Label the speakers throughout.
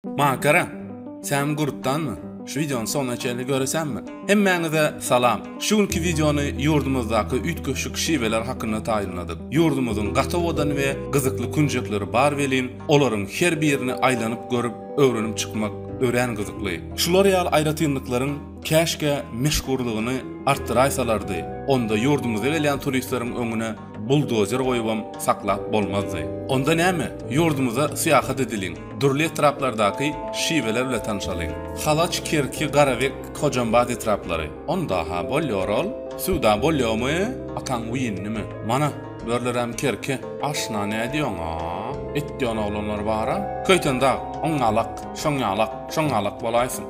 Speaker 1: Makara, Sen gurtdanmy? Şu wideony soňuna çenli göresenmi? Hemmäňize salam. Şu günki wideony ýurdumyzdaky üýtgeşik şiweler hakynda taýynladyk. Ýurdumyzyň gaty owadan we gyzykly künjekleri bar welin, olaryň her birini aýlanyp görüp, öwrenip çykmak örän gyzykly. Şular ýaly aýratynlyklaryň käşgä meşhurlygyny artdyraýsalardy, onda ýurdumyza gelýän turistleriň öňüne Buldozer goýubam saklap bolmazdy. Onda näme, ýurdumyza syýahat edeliň, dürli etraplardaky şiweler bile tanşalyň. Halaç, Kerki, Garabek, Hojambaz etraplary. Onda-ha bolýar ol. Söwda bolýarmy, ataň wiýnimi? Mana, börüleräm Kerki. Aşna nädýoň-a? Etýän oglanlar bar-a. Köýtendag, oňňalak, şoňňalak, şoňňalak bolaýsyn.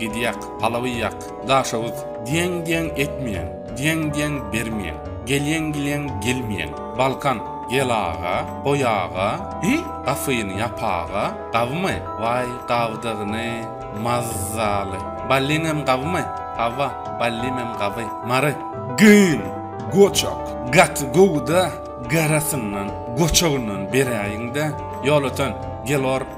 Speaker 1: Gidýäk, palawy ýak, daşoguz, Diýeň-diýeň etmeýäň, diýeň-diýeň bermeýäň, Gelýeň-gilýeň gelmeýäň, Balkan, Gel aga, goý aga, Hi, gapyny ýap aga, Gabymy? Waý, gabdygyny, mazzaly. Ballimem gabymy? Hawa, ballimem gaby. Mary. Gyn, goçak, gaty gowy-da, garasyndan, goçagyndan beräýiň-dä, Ýolöten, gel or.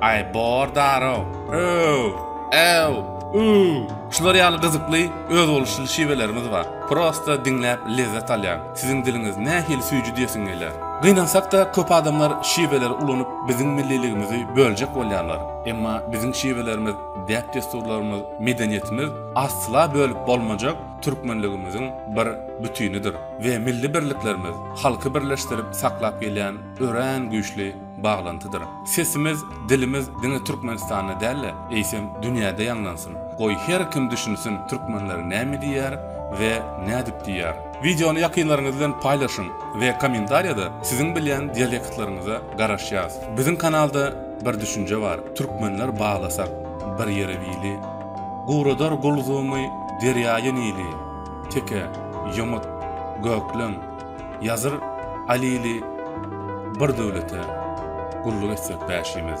Speaker 1: Aý bor darow. Öw! Äw! Üw! Şular ýaly gyzykly, özboluşly şiwelerimiz bar. Prosta diňläp lezzet alýan. Siziň diliňiz nähili süýji diýesiň geler. Gynansak-da köp adamlar şiweleri ulanyp biziň milliligimizi böljek bolýarlar. Emma biziň şiwelerimiz, däp-dessurlarymyz, medeniýetimiz asla bölüp bolmajak türkmenligimiziň bir bütinidir we milli birliklerimiz halky birleşdirip saklap gelýän örän güýçli baglantydyr. Sesimiz, dilimiz diňe Türkmenistanda däl-de, eýsem dünýäde ýaňlansyn. Goý, her kim düşünsin türkmenler näme diýýär we nädip diýýär. Wideony ýakynlaryňyz bilen paýlaşyň we kommentariýada siziň bilýän dialektlaryňyza garaşýas. Biziň kanalda bir düşünje bar, Türkmenler baglasak bir ýere wili, Guradar gulzumy derýaýy Nili, Teke, ýomut, gökleň, Ýazyr Alili Bir döwlete gulluk etsek bäşimiz.